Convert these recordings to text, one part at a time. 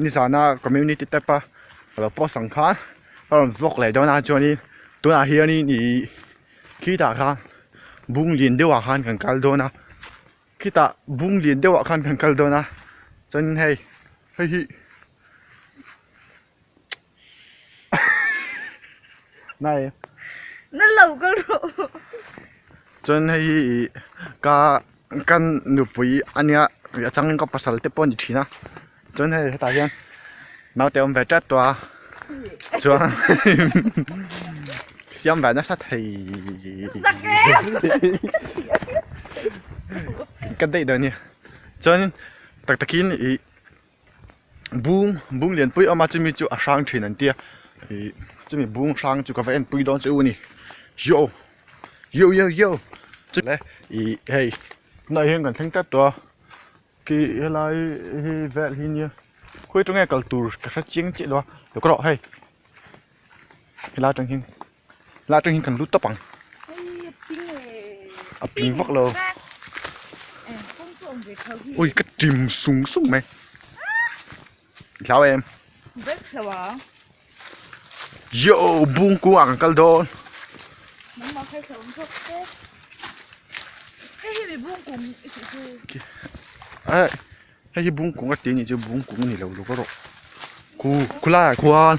ni zana community tab a ka lo post ang khan ka rawn vlog leh dawn a chuanin tunah hianin ihh khitah khan bung lian deuh ah khan kan kal dawn a khitah bung lian deuh ah khan kan kal dawn a chuanin hei heihi-- Nai. Na lo ka ro. Chuan hei hi i ka kan nupui ania ri a changin ka pasal te pawh a ni thin a chuan hei hetah hian naute awm ve tep tawh a chuan siam ve nasa thei ka daih dawn nia chuanin tak takin ih bung bung lian pui a awm a chumi chu a hrang thin an tia ih chumi bung hrang chu ka va en pui dawn che u ni yoh yoh yoh yoh chule ih hei tunah hian kan thleng tlat tawh a khi helai hi vel hi nia khawi aṭang hian kal tur ka hre chiang chiah lo a tluk ka rawh hei helai aṭang hian. la atang hian kan lu tap ang a ping vak lo ui ka tim sung sung mai hlau em yo bung ku ang kal dawn ai Hei hi bung kung a tih ni chu bung kung a ni lo lova rawh khu khulai ah khuan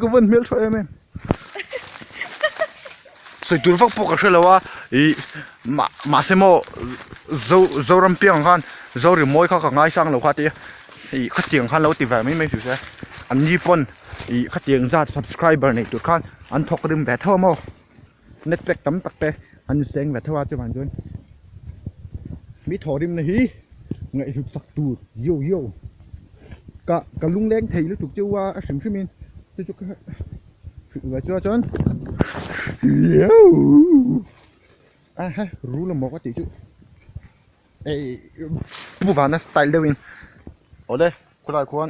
ka van hmel tha em em soi tur vak pawh ka hre lo a i ma ma se maw zo zoram piang khan zo ri mawi kha ka ngai sang lo kha tia i khatiang khan lo ti vang mai mai hri hria an ni pawn i khatiang zat subscriber nei tur khan an thawk rim ve thauh a maw net pack tam tak te an seng ve theuh a chuavang chuan mi thaw rim na hi ngaihhluk sak tur yo yo ka ka lungleng thei lutuk cheu a a hrim hrimin chu chu ka hrih ve chua chuan aha ru la mawka tih chu ei bu vahna style deuhin awle khulai khuan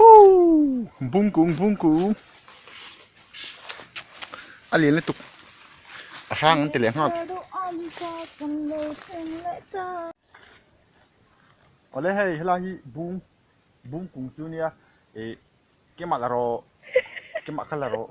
Ooh! Bung kung bung kung. A lian lutuk. A hrang an ti leh nghak. Awle hei helai hi bung bung kung chu nia e kemah la rawh kemah kha la rawh.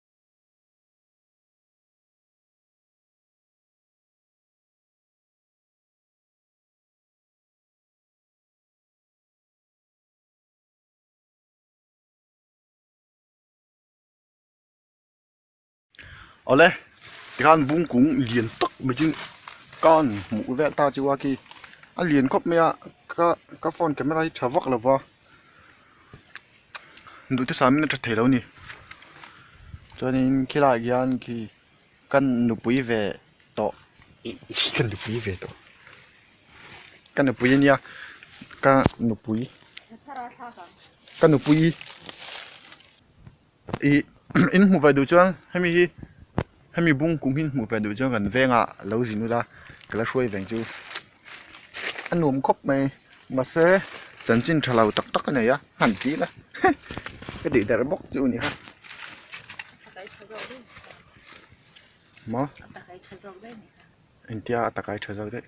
awle tikhan bung kung lian tak mai chu kan hmuh vel ta chu a khi a lian khawp mai a ka ka phone camera hi tha vak lo va. duhte samin a tha theilo ni chuanin khilai ah khian khi kan nupui ve tawh ka nupui ve tawh ka nupui ania ka nupui ka nupui. Ih in hmuh ve duh chuan hemi hi hemi bung kum hi in hmuh ve duh chuan kan veng ah lo zin nut a ka la hruai veng chu a nuam khawp mai mahse chanchin tha lo tak tak a nei a hman chiah ila ka tih der bawk chu ni kha maw engtia a takai tha zawk daih.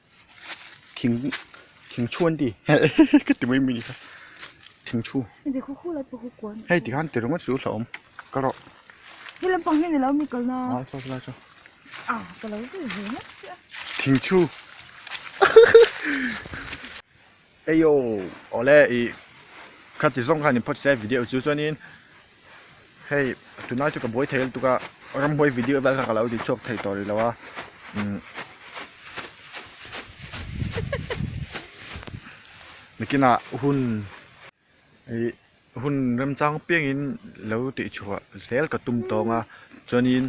thing thing thu an ti ka ti mai mai ni kha thing thu hei ti khan ti ringawt chu hla awm ka rawh he lampang hian alo mi kalna a chhuak lai chuan a ka lo zel ve ngawt chiah thing thu Eio awle i khati zawng khan in phawt se video chu chuanin hei tunlai chu ka buai thei lutuk a ramhuai video vel kha ka lo ti chhuak thei tawh ri lo a mikina hun i hun remchang piang in lo ti chhuah zel ka tum tawng a chuanin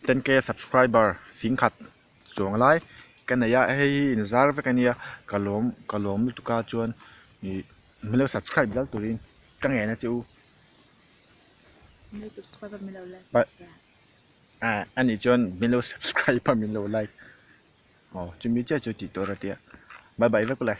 ten k subscriber sing khat chuang lai ka nei a hei hi in zar vek a nia ka lawm ka lawm lutuk a chuan ih milo subscribe zel turin ka nghen a che u ah a nih chuan milo subscribe a milo like aw chu mi chiah chu tih tur a tia bye bye vek ulai.